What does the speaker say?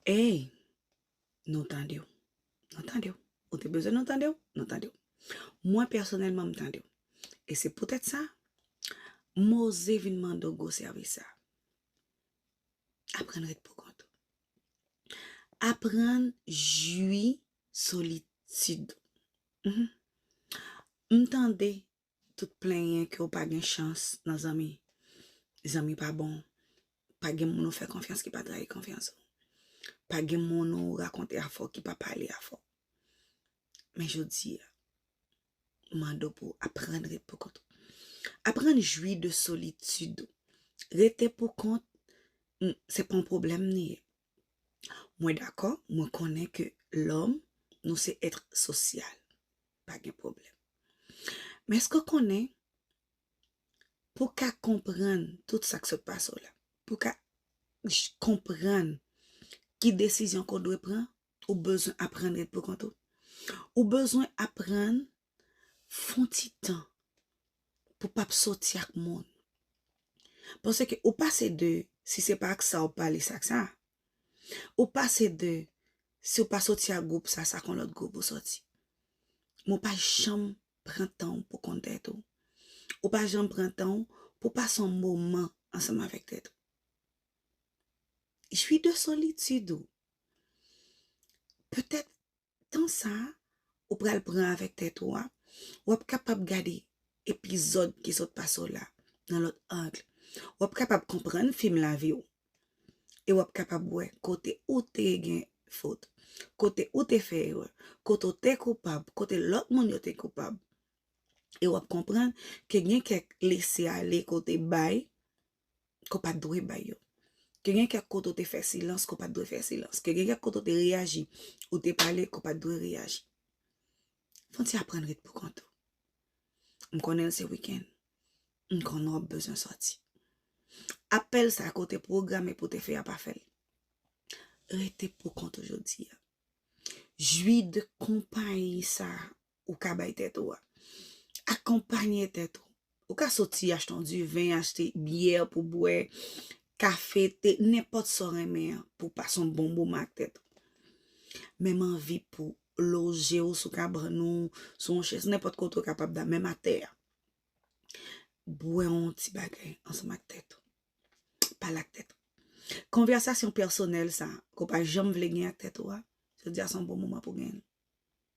Ey, nou tande w. Nou tande w. Ou te bezwen nou tande w? Nou tande w. Mwen pèsonèlman m tande w. E se poutèt sa, m oze vin mande w gwo sèvis sa a. Aprann ret poukont ou. Aprann jwi solitid ou. M tande tout plenyen ke ou pa gen chans nan zanmi. Zanmi pa bon. Pa gen moun ou fè konfyans ki pa trayi konfyans ou. Pa gen moun ou rakonte afè w ki pa pale afè w. Men jodi a, m mande w pou w aprann ret pou kont ou. Aprann jwi de solitid ou. Rete pou kont, se pa yon pwoblèm li ye. Mwen dakò, mwen konnen ke lòm, nou se èt sosyal. Pa gen pwoblèm. Men èske w konnen, pou w ka konprann tout sa k sot pase w la, pou w ka konprann ki desizyon ke w dwe pran, ou bezwen aprann ret poukont ou. Ou bezwen aprann fon ti tan pou pap soti ak moun. Paske ou pase de si se pa ak sa ou pale se ak sa. Ou pase de si ou pa soti ak gwoup sa se ak yon lòt gwoup ou soti. Men ou pa janm pran tan ou pou konn tèt ou. Ou pa janm pran tan ou pou pase yon moman ansanm avèk tèt ou. Jwi de solitid ou. Petèt tan sa ou pral pran avèk tèt ou a, w ap kapab gade epizòd ki sot pase w la nan lòt ang, w ap kapab konprann fim lavi w e w ap kapab wè kote ou te gen fot, kote ou te fè erè, kote w te koupab, kote lòt moun yo te koupab e w ap konprann ke gen kèk lese ale ke w te bay ke w pa t dwe bay yo. Ke gen kèk kote ou te fè silans ke w pa t dwe fè silans. Ke gen kèk kote ou te reyaji, ou te pale ke w pa t dwe reyaji. Fò n ti aprann ret pou kont ou. M konnen l se wikenn. M konnen w ap bezwen sòti. Apèl sa ke w te pwograme pou w te fè a pa fè l. Rete pou kont ou jodi a. Jwi de konpayi sa ou ka bay tèt ou a. Akonpanye tèt ou. Ou ka soti achte yon diven, achte byè pou bwè, kafe, te, nenpòt sa w renmen an pou w pase yon bon moman ak tèt ou. Menm anvi pou loje w sou kabann ou, sou yon chèz, nenpòt kote ou kapab dòmi, menm atè a. Bwè yon ti bagay ansanm ak tèt ou. Pale ak tèt ou. Konvèsasyon pèsonèl sa a ke w pa janm vle gen ak tèt ou a, jodi a se yon bon moman pou w gen l.